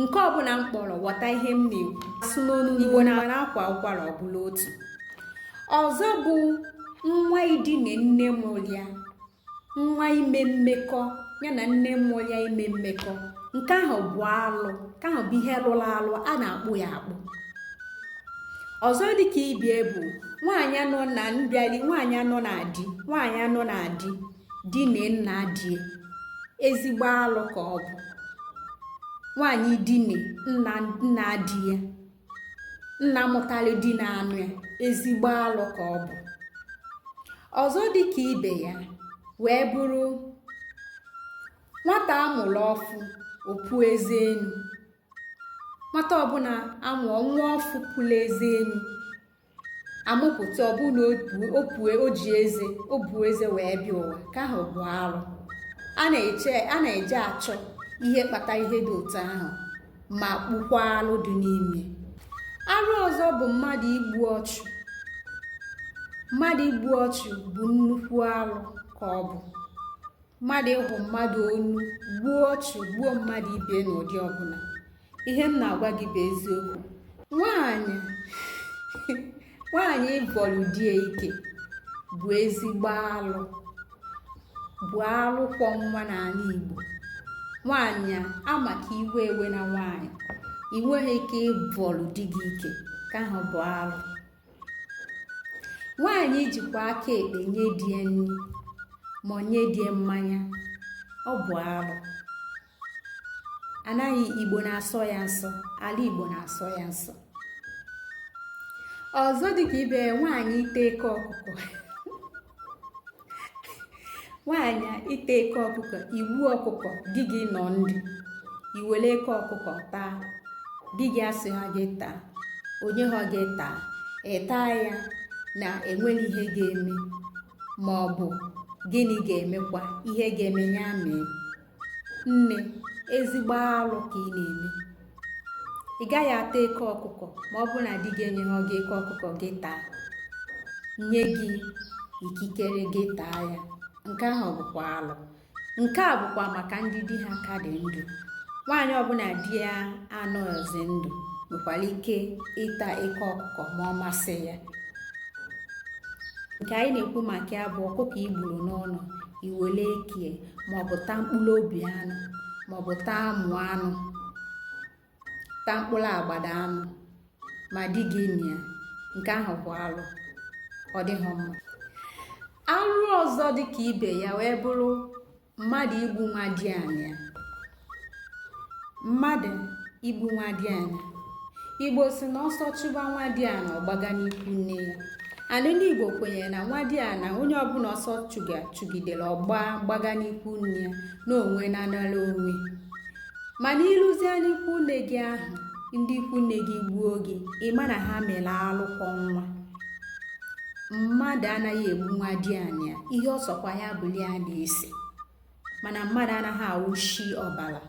nke ọbụla m kpọrọ ghọta ihe m na-ekwu asụ n'onu igbo na akwa ụkwara ọ bụrụ otu ọzọ bụ nwa idine nne mụrụ ya nwa ime mmekọ ya na nne mụrụ ya ime mmekọ nke ahụ bụ alụ nke ahụ bụ ihe lụrụ alụ a na-akpụ ya akpụ ọzọ dịka ibie bụ nwaanyị nọ na mbịali nwaanyị nọ na di nwaanyị nọ na di dine nna die ezigbo alụ ka ọ bụ nwaanyị dine nna nna di ya nna mụtara di na-anụ ya ezigbo alụ ka ọ bụ ọzọ dị ka ibe ya wee bụrụ nwata a mụrụ ọfụ o puo eze enu nwata ọbụla a mụọ nwa ọfụ puru eze enu a mụpụta ọ bụrụ na o pue o ji eze o bu eze wee bịa ụwa nke ahụ bụ alụ a na-eche a na-eje achọ ihe kpata ihe dị otu ahụ ma kpụkwa alụ dị n'ime arụ ọzọ bụ mmadụ igbu ọchụ mmadụ igbu ọchụ bụ nnukwu arụ ka ọ bụ mmadụ igbu mmadụ onu gbuo ọchụ gbuo mmadụ ibe n'ụdị ọbụla ihe m na-agwa gị bụ eziokwu nwaanyị nwaanyị ịbọrọ di ya ike bụ ezigbo alụ bụ alụ kwọ nwa n'ala Igbo nwaanyị a ma ka iwe ewena nwaanyị i nweghị ike ịbọrọ di gị ike nke ahụ bụ alụ nwaanyị jikwa aka ekpe nye di ya nri ma ọ nye di ya mmanya ọ bụ arụ ana igbo na-asọ ya nsọ ala igbo na-asọ ya nsọ ọzọ dịka ibe nwaanyị ịta eke ọkụkọ nwaanyị ịta eke ọkụkọ i gbuo ọkụkọ di gị nọ ndụ i were eke ọkụkọ taa di gị asịha gị taa o nyeha gị taa ị taa ya na enweghị ihe ga-eme ma ọ bụ gịnị ga-emekwa ihe ga-eme ya mee nne ezigbo alụ ka ị na-eme ị gaghị ata eke ọkụkọ ma ọ bụrụ na di gị enyeghị gị eke ọkụkọ gị taa nye gị ikikere gị taa ya nke ahụ bụkwa alụ nke a bụkwa maka ndị di ha ka dị ndụ nwaanyị ọbụla di ya anọghịzi ndụ nwekwara ike ịta eke ọkụkọ ma ọ masị ya nke anyị na-ekwu maka ya bụ ọkụkọ i gburu n'ụlọ i wele ekie maọbụ taa mkpụrụ obi anụ maọbụ taa amụ anụ taa mkpụrụ agbada anụ ma di gị nọ ya nke ahụ bụ alụ ọ dịghị mma alụ ọzọ dị ka ibe ya wee bụrụ mmadụ igbu nwadianị ya mmadụ igbu nwadiana igbo sị na ọsọ chụba nwadiana ọ gbaga n'ikwu nne ya ala ndị igbo kwenyere na nwadiana onye ọbụla ọsọ chụga chụgidere ọ gba gbaga n'ikwu nne ya na onwe na anara onwe mana i luzie n'ikwu nne gị ahụ ndị ikwu nne gị gbuo gị ị ma na ha mere alụ kwọ nwa mmadụ anaghị egbu nwadiana ihe ọ sọkwa ya bụlụ a na-ese mana mmadụ anaghị awụshi ọbara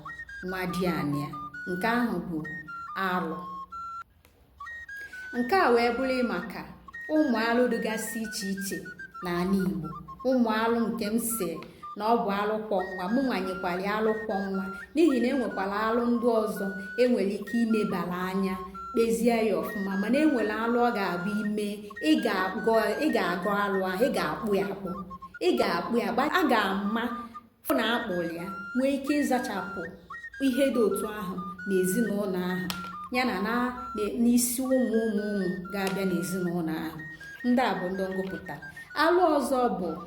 nwadiana ya nke ahụ bụ alụ nke a wee bụrụ maka ụmụ alụ dịgasị iche iche n'ala Igbo ụmụ alụ nke m sị na ọ bụ alụ kwọ nwa mụ nwa nyekwara ya alụ kwọ nwa n'ihi na enwekwara alụ ndị ọzọ enwere ike imebara anya kpezie ya ọfụma mana enwere alụ ọ ga-abụ i mee ị ga-agọ alụ ahụ ị ga-akpụ ya akpụ ị ga-akpụ ya gba a ga-ama fụ na a kpụrụ ya nwee ike ịzachapụ ihe dị otu ahụ n'ezinụlọ ahụ ya na na n'isi ụmụ ụmụ ụmụ ga-abịa n'ezinụlọ ahụ ndị a bụ ndị m gụpụta alụ ọzọ bụ